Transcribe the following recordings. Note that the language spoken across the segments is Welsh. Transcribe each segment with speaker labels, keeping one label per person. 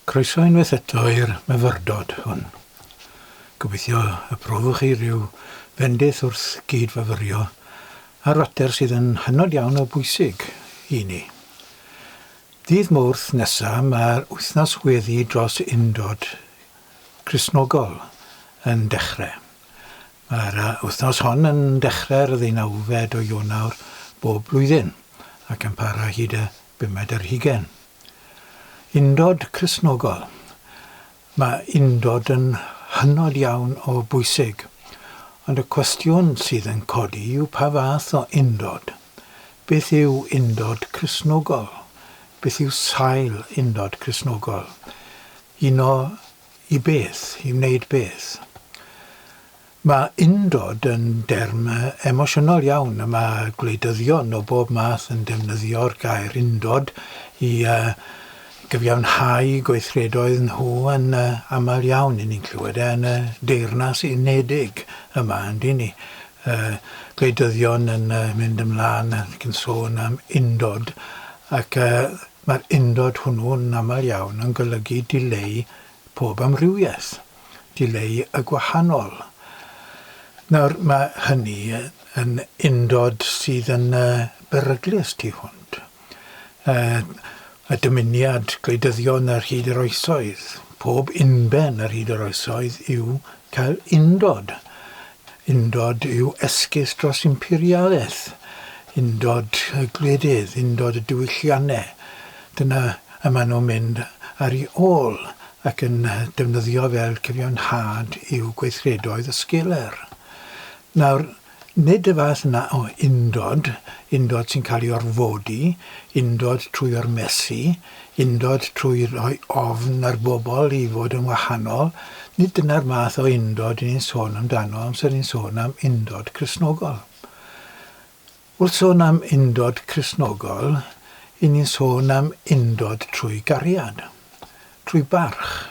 Speaker 1: Croeso unwaith eto i'r myfyrdod hwn. Gobeithio y profwch chi rhyw fendith wrth gyd-fyfyrio ar fater sydd yn hynod iawn o bwysig i ni. Ddydd Mawrth nesa mae'r wythnos weddi dros undod Cristnogol yn dechre. Mae'r wythnos hon yn dechre'r ddeunawfed o Ionawr bob blwyddyn ac yn para hyd y Bumed yr Hugain. Undod Cristnogol. Mae undod yn hynod iawn o bwysig, ond y cwestiwn sydd yn codi yw pa fath o undod? Beth yw undod Cristnogol? Beth yw sail undod Cristnogol? Uno i beth? I wneud beth? Mae undod yn derm emosiynol iawn a mae gwleidyddion o bob math yn defnyddio'r gair undod i gyfiawnhau gweithredoedd nhw yn aml iawn. Y'n ni'n clywed e yn y Deyrnas Unedig yma, yn dŷn ni. Gwleidyddion yn mynd ymlaen ac yn sôn am undod ac mae'r undod hwnnw'n aml iawn yn golygu dileu pob amrywiaeth. dileu y gwahanol. Nawr, mae hynny yn undod sydd yn beryglus tu hwnt y dymuniad gwleidyddion yr hyd yr oesoedd, pob unben yr hyd yr oesoedd, yw cael undod. Undod yw esgus dros imperialaeth, undod y gwledydd, undod y diwylliannau. Dyna y maen nhw'n mynd ar ei ôl, ac yn defnyddio fel cyfiawnhad i'w gweithredoedd y sgeler. Nawr, nid y fath yna o undod, undod sy'n cael ei orfodi, undod trwy ormesu, undod trwy roi ofn ar bobl i fod yn wahanol, nid dyna'r math o undod 'yn ni'n sôn amdano amser ni'n sôn am undod Cristnogol. Wrth sôn am undod Cristnogol, y'n ni'n sôn am undod trwy gariad, trwy barch.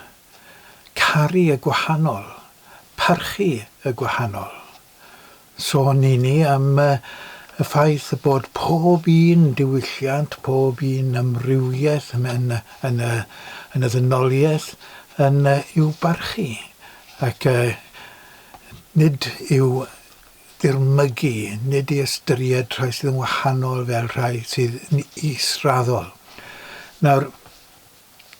Speaker 1: Caru y gwahanol, parchu y gwahanol. Sôn y'n ni am y ffaith y bod pob un diwylliant, pob un amrywiaeth yn y ddynoliaeth yn i'w barchu ac nid i'w ddirmygu, nid i ystyried rhai sydd yn wahanol fel rhai sydd yn israddol. Nawr,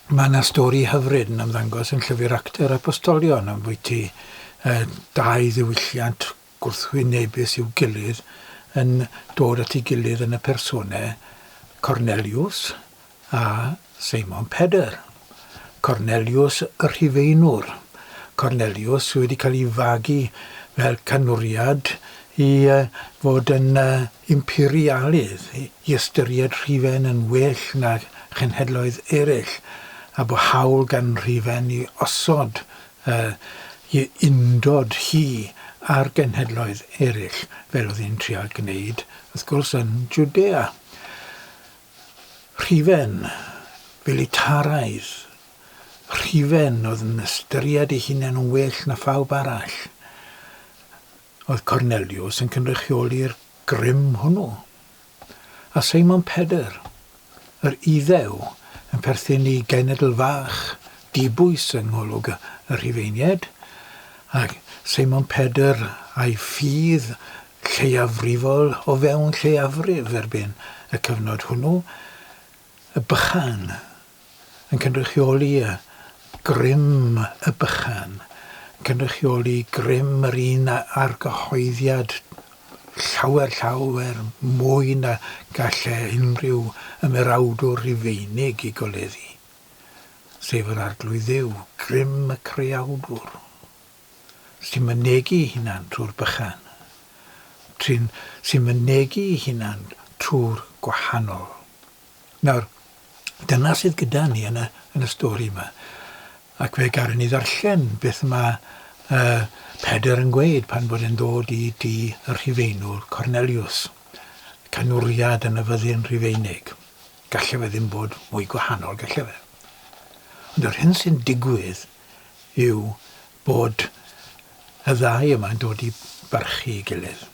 Speaker 1: mae yna stori hyfryd yn ymddangos yn Llyfr Actau'r Apostolion ambwyty uh, dau ddiwylliant gwrthwynebus i'w gilydd yn dod at ei gilydd yn y personau Cornelius a Seimon Pedr, Corneliws y Rhufeinwr, Corneliws sydd wedi cael ei fagu fel canwriad i fod yn imperialydd, i ystyried Rhufen yn well na chenhedloedd eraill, a bu hawl gan Rufen i osod ei undod hi â'r genhedloedd eraill, fel oedd hi'n trial gwneud, wrth gwrs, yn Jwdea. Rhufen filitaraidd, rhufen oedd yn ystyried ei hunain yn well na phawb arall, oedd Corneliws yn cynrychioli'r grym hwnnw. A Seimon Pedr, yr Iddew, yn perthyn i genedl fach, dibwys yng ngolwg y Rhufeiniaid, a Seimon Pedr a'i ffydd lleiafrifol o fewn lleiafrif erbyn y cyfnod hwnnw, y bychan yn cynrychioli y grym y bychan yn cynrychioli grym yr un argyhoeddiad llawer, llawer mwy na gallai unrhyw ymerawdwr Rufeinig ei goleddu, sef yr Arglwydd Dduw, grym y creawdwr. sy'n mynegi'i hunan trwy'r bychan, trin sy'n mynegi'i hunan trwy'r gwahanol. Nawr, dyna sydd gyda ni yn y, yn y stori yma. Ac fe garen ni ddarllen beth mae uh, Pedr yn gweud pan bod e'n dod i di y rhifeinwr Cornelius. Canwriad yn y fyddin rhifeinig. Gallai fe ddim bod mwy gwahanol, gallai fe. Ond yr hyn sy'n digwydd yw bod y ddau yma'n dod i barchu'i gilydd.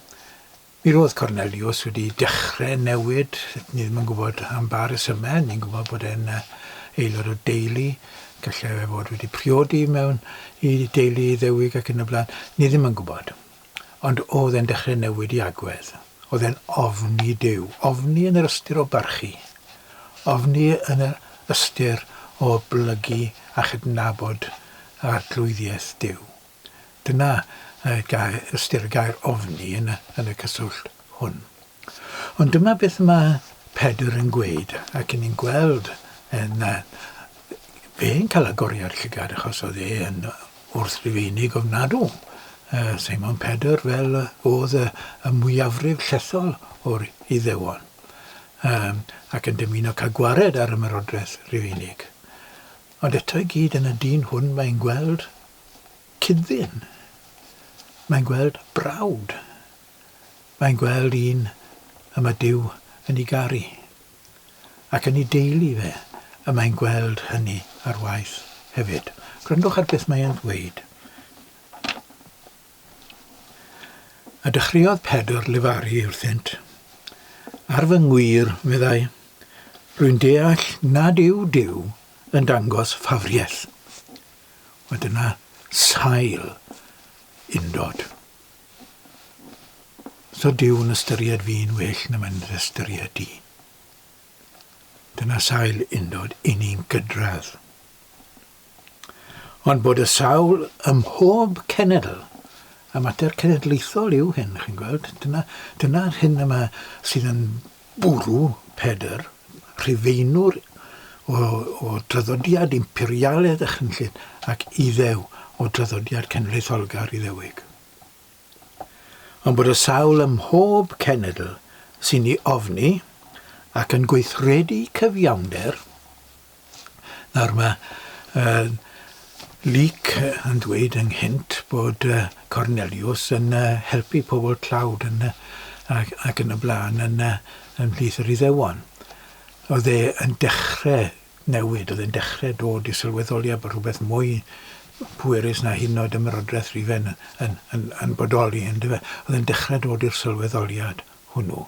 Speaker 1: Mi roedd Corneliws wedi dechrau newid, ni ddim yn gwybod am ba resymau, ni'n gwybod bod e'n aelod o deulu, gallai fe fod wedi priodi mewn i deulu Iddewig ac yn y blaen, ni ddim yn gwybod. Ond oedd e'n dechrau newid i agwedd. Oedd e'n ofni Duw. Ofni yn yr ystyr o barchu. Ofni yn yr ystyr o oblygu a chydnabod Arglwyddiaeth Duw. Dyna ystyr y gair ofni yn y cyswllt hwn. Ond dyma beth mae Pedr yn gweud, ac yn ni'n gweld yn uh, fe'n cael agoriad llygad achos oedd e yn wrth rifeinig ofnadw. Uh, Simon Pedr fel uh, oedd y, y mwyafrif llethol o'r iddewon um, ac yn dymuno cael gwared ar ymerodraeth rifeinig. Ond eto i gyd yn y dyn hwn mae'n gweld cydddyn. Mae'n gweld brawd. mae'n gweld un y mae Duw yn ei garu, ac yn ei deulu fe y mae'n gweld hynny ar waith hefyd. Gwrandwch ar beth mae e'n ddweud. A dechreuodd Pedr lefaru wrthynt. Ar fy ngwir, meddai, rwy'n deall nad yw Duw yn dangos ffafriaeth. Mae dyna sail undod. So Duw'n ystyried fi'n well na mae'n dy ystyried di. Dyna sail undod i ni'n gydradd. Ond bod y sawl ym mhob cenedl, a mater cenedlaethol yw hyn, chi'n gweld, dyna, dyna'r hyn yma sydd yn Bwrw Pedr, Rhufeinwr o o draddodiad imperialedd a chynllun, ac Iddew o draddodiad cenedlaetholgar Iddewig. Ond bod y sawl ym mhob cenedl sy'n ei ofni ac yn gweithredu cyfiawnder Nawr mae uh, Luc yn dweud ynghynt bod uh, Cornelius yn uh, helpu pobl tlawd yn, uh, ac, ac yn y blaen yn, uh, yn plith yr iddewon. Oedd e yn dechrau newid, oedd e'n dechrau dod i sylweddoliad bod rhywbeth mwy pwerus na hyn oed ymrodraeth rifen yn, yn, yn, yn bodoli, yn dyfa. Oedd e'n dechrau dod i'r sylweddoliad. hwnnw,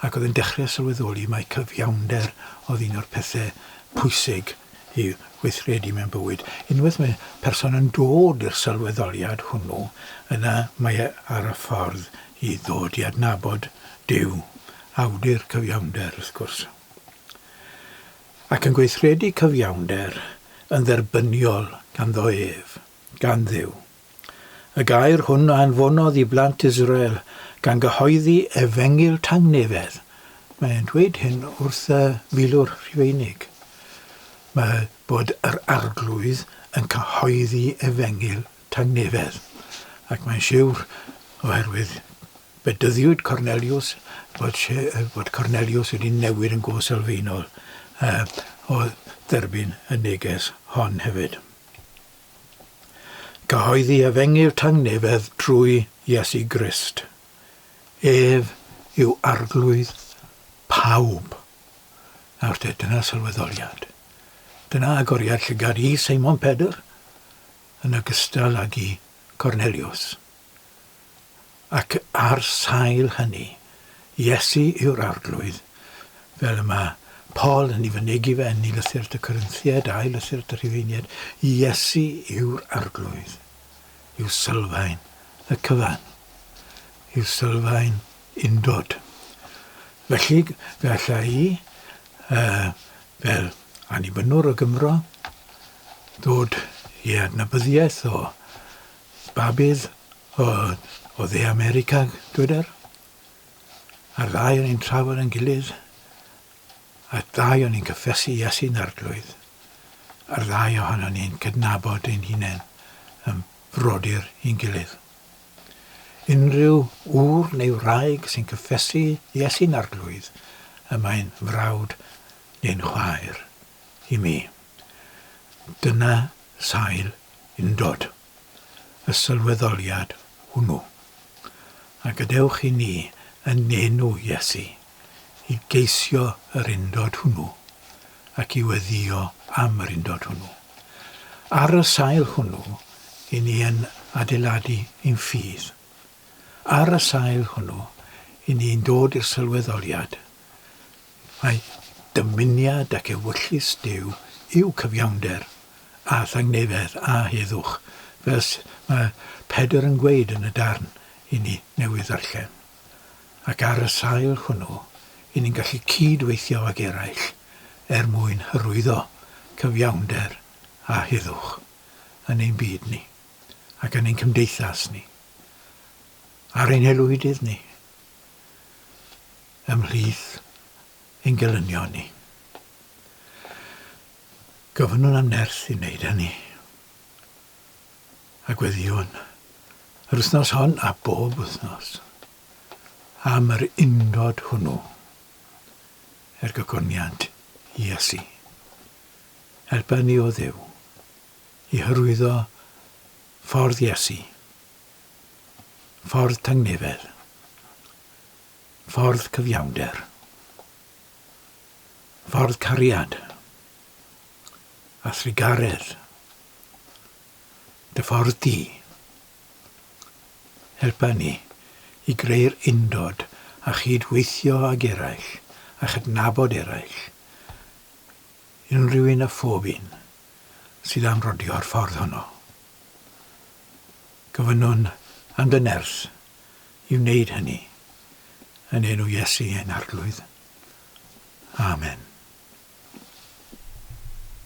Speaker 1: ac oedd yn dechrau sylweddoli mai cyfiawnder oedd un o'r pethau pwysig i weithredu mewn bywyd. Unwaith mae person yn dod i'r sylweddoliad hwnnw, yna mae e ar y ffordd i ddod i adnabod Duw, awdur cyfiawnder, wrth gwrs, ac yn gweithredu cyfiawnder yn dderbyniol ganddo ef, gan Dduw. Y gair hwn a anfonodd i blant Israel, gan gyhoeddi efengyl tangnefedd. Mae e'n dweud hyn wrth y Milwr Rhufeinig. Mae bod yr Arglwydd yn cyhoeddi efengyl tangnefedd. Ac mae'n siwr, oherwydd bedyddiwyd Corneliws, bod, bod Corneliws wedi newid yn go sylfaenol uh, o dderbyn y neges hon hefyd. Cyhoeddi efengyl tangnefedd trwy Iesu Grist. Ef yw arglwydd pawb. Nawr te, dyna sylweddoliad. Dyna agoriad llygad i Seimon Pedr yn ogystal ag i Corneliws. Ac ar sail hynny, Iesu yw'r Arglwydd, fel y mae Paul yn ei fynegi fe yn I Lythyr at y Corinthiaid a'i Lythyr at y Rhufeiniaid, Iesu yw'r Arglwydd, yw sylfaen y cyfan, yw sylfaen undod. Felly, fe alla i, uh, fel annibynnwr o Gymro, ddod i adnabyddiaeth o Babydd o o dde America dyweder a'r ddau o'n i'n trafod yn gilydd a'r ddau o'n i'n cyffesu Iesu'n arglwydd a'r ddau ohonon ni'n cydnabod ein hunain yn frodyr i'n gilydd. Unrhyw ŵr neu wraig sy'n cyffesu Iesu'n arglwydd y mae'n frawd neu'n chwaer i mi. Dyna sail undod, y sylweddoliad hwnnw. A gadewch i ni, yn enw Iesu, i geisio yr undod hwnnw ac i weddïo am yr undod hwnnw. Ar y sail hwnnw, i ni yn adeiladu ein ffydd. Ar y sail hwnnw, i ni'n dod i'r sylweddoliad Mae dymuniad ac ewyllys Duw yw cyfiawnder, a thangnefedd, a heddwch, fel sut mae Pedr yn gweud yn y darn i ni newydd ddarllen. Ac ar y sail hwnnw, i ni'n gallu cyd-weithio ag eraill er mwyn hyrwyddo cyfiawnder a heddwch yn ein byd ni, ac yn ein cymdeithas ni, ar ein haelwydydd ni. ymhlith ein gelynion ni. Gofynnwn am nerth i wneud hynny. A gweddiwn, yr wythnos hon a bob wythnos, am yr undod hwnnw, er gogoniant Iesu. Helpa ni o Dduw i hyrwyddo ffordd Iesu, ffordd tangnefedd, Ffordd cyfiawnder. Ffordd cariad. A thrugaredd. Dy ffordd di. Helpa ni i greu'r undod a chyd-weithio ag eraill a chydnabod eraill, unrhyw un a phob un, sydd am rodio'r ffordd honno. Gofynnwn am dy nerth i wneud hynny, yn enw Iesu ein Arglwydd. Amen.